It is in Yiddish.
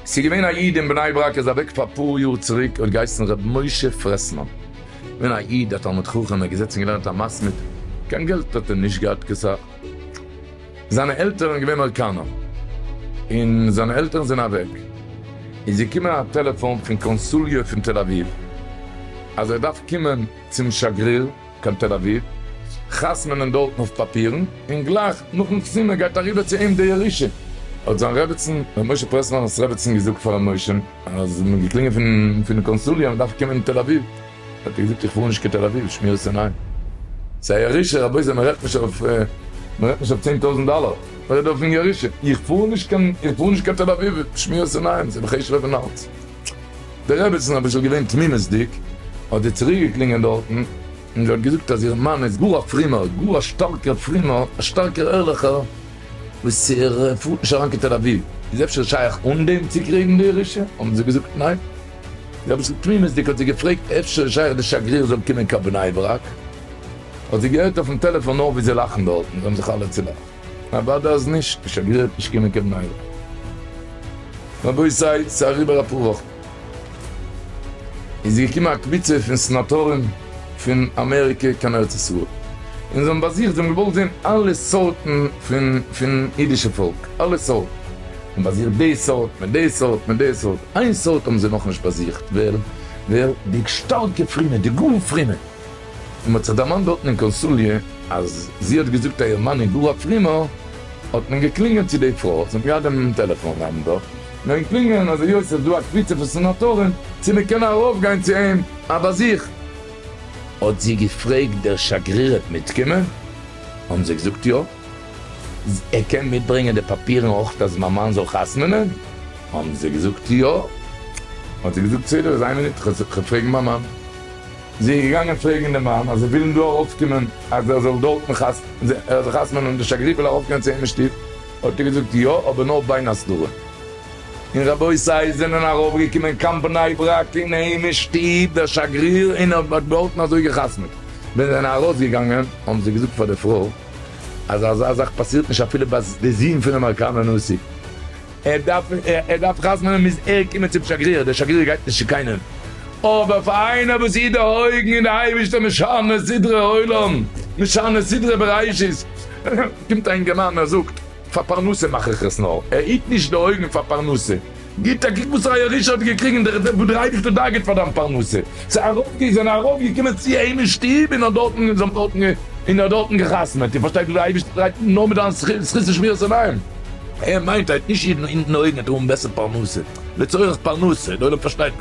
ס'איז געווען א איד אין בני ברק איז אוועק פאר אפאר יאר צוריק ער האט געהייסן ר' משה פרעסמאן געווען א איד א תלמיד חכם ער האט געזעצן געלערנט א מסמיד קיין געלט האט ער נישט געהאט קיין סאך. זיינע עלטערן איז געווען אויקאנא, און זיינע עלטערן זענען אוועק, איז געקומען א טעלעפאן פון קאנסוליע פון תל אביב, אז ער דארף קומען צום שגריר קיין תל אביב, חתמ'נען דארטן אויף פאפירן, און גלייך נאכן חתימה גייט אריבער צו אים די ירושה. האט זיין רעבעצן, ר' משה פרעסלאנ'ס רעבעצן געזאגט פאר ר' משה, אז מ'האט געקלינגען פון קאנסוליע אז מ'דארף קומען אין תל אביב. האט ער געזאגט איך פאר נישט קיין תל אביב, שמירת עיניים. ס'איז א ירושה רבותי מ'רעדט נישט אויף מ'רעדט נישט אויף צען טויזענט דאלער, מ'רעדט אויפן ירושה. איך פאר נישט קיין איך פאר נישט קיין תל אביב, שמירת עיניים, ס'איז בחיישעך אויפן האלץ. די רעבעצן אביסל געווען תמימות'דיג, האט זי צוריק געקלינגען דארטן, און זי האט געזאגט אז איר מאן איז גאר א פרומער, גאר א שטארקער פרומער, א שטארקער ערליכער, וואס ער פארט נישט אריין קיין תל אביב. איז אפשר שייך אן דעם צוקריגן די ירושה? האבן זיי געזאגט ניין. רביצן תמימות'דיג האט זי געפרעגט אפשר איז שייך די שגריר זאל קומען קיין בני ברק, האט זי געהערט אויפן טעלעפאן נאר ווי זיי לאכן דארטן, זיי האבן זיך אלע צולאכט, אוודאי אז נישט, די שגריר וועט נישט קומען קיין בני ברק. רבותי ס'איז אריבער אפאר וואכן, איז געקומען א קבוצה פון סנאטארן פון אמעריקע קיין ארץ ישראל, און זיי האבן באזוכט, זיי האבן געוואלט זען אלע סארטן פון פון אידישע פאלק, אלע סארטן, און באזיכט די סארט מיט די סארט מיט די סארט, איין סארט האבן זיי נאכנישט באזיכט, ווער? ווער? די שטארקע פרומע, די גאר פרומע, און מ'האט זיך דערמאנט דארטן אין קאנסוליא אז זי האט געזאגט אז איר מאן איז גאר א פרומער, האט מען געקלינגען צו די פרוי, זי האט געהאט דעם טעלעפאן נאמבער, געווען קלינגען אז היות עס איז דא א קבוצה פון סענאטארן צו מען קען ארויפגיין צו אים א באזיך, האט זי געפרעגט דער שגריר אויב מיטקומען, האבן זיי געזאגט יא. ער קען מיטברענגען די פאפירן אויך אז מיין מאן זאל חתמ'נען? האבן זיי געזאגט יא. האט ער געזאגט בסדר איז איין מינוט כ'גיי פרעגן מיין מאן. זי איז געגאנגען פרעגן די מאן אז זיי ווילן דא ארויפקומען אז ער זאל דארטן חתמ'נען און די שגריר וויל ארויפקומען צו אים אין שטוב, האט ער געזאגט יא אבער נאר בין הסדרים. און רבותי עס זענען ארויפגעקומען קיין בני ברק אין אים אין שטוב דער שגריר און ער האט דארטן אזוי געחתמ'ט. ווען זיי זענען ארויסגעגאנגען האבן זיי געזאגט פאר די פרוי. אז אזא זאך פאסירט נישט אפילו ביי די זון פון אמעריקאנער נשיא, ער דארף ער דארף חתמ'נען מוז ער קומען צום שגריר, דער שגריר גייט נישט צו קיינעם, אבער פאר איינער וואס איז די אויגן אין די אייבערשטער משנה סדרי עולם, משנה סדרי בראשית, קומט א אינגערמאן ער זאגט פאר פרנסה מאך איך עס נאר, ער היט נישט די אויגן פאר פרנסה. גיט א קוק וואס ר' אלישע האט געקריגן דורך דעם וואס דער אייבערשטער דאגה'ט פאר דיין פרנסה. ס'איז ארויף זענען ארויף געקומען צו אים אין שטוב און האט דארטן און זיי האבן דארטן און ער האט דארטן געחתמעט. איר פארשטייט וואס דער אייבערשטער דרייט אן נאר מיט דיין זכות שמירת עיניים. ער מיינט היינט נישט אידן אונטן אויבן ער דארף האבן בעסער פרנסה לצורך פרנסה, דער עולם פארשטייט נישט.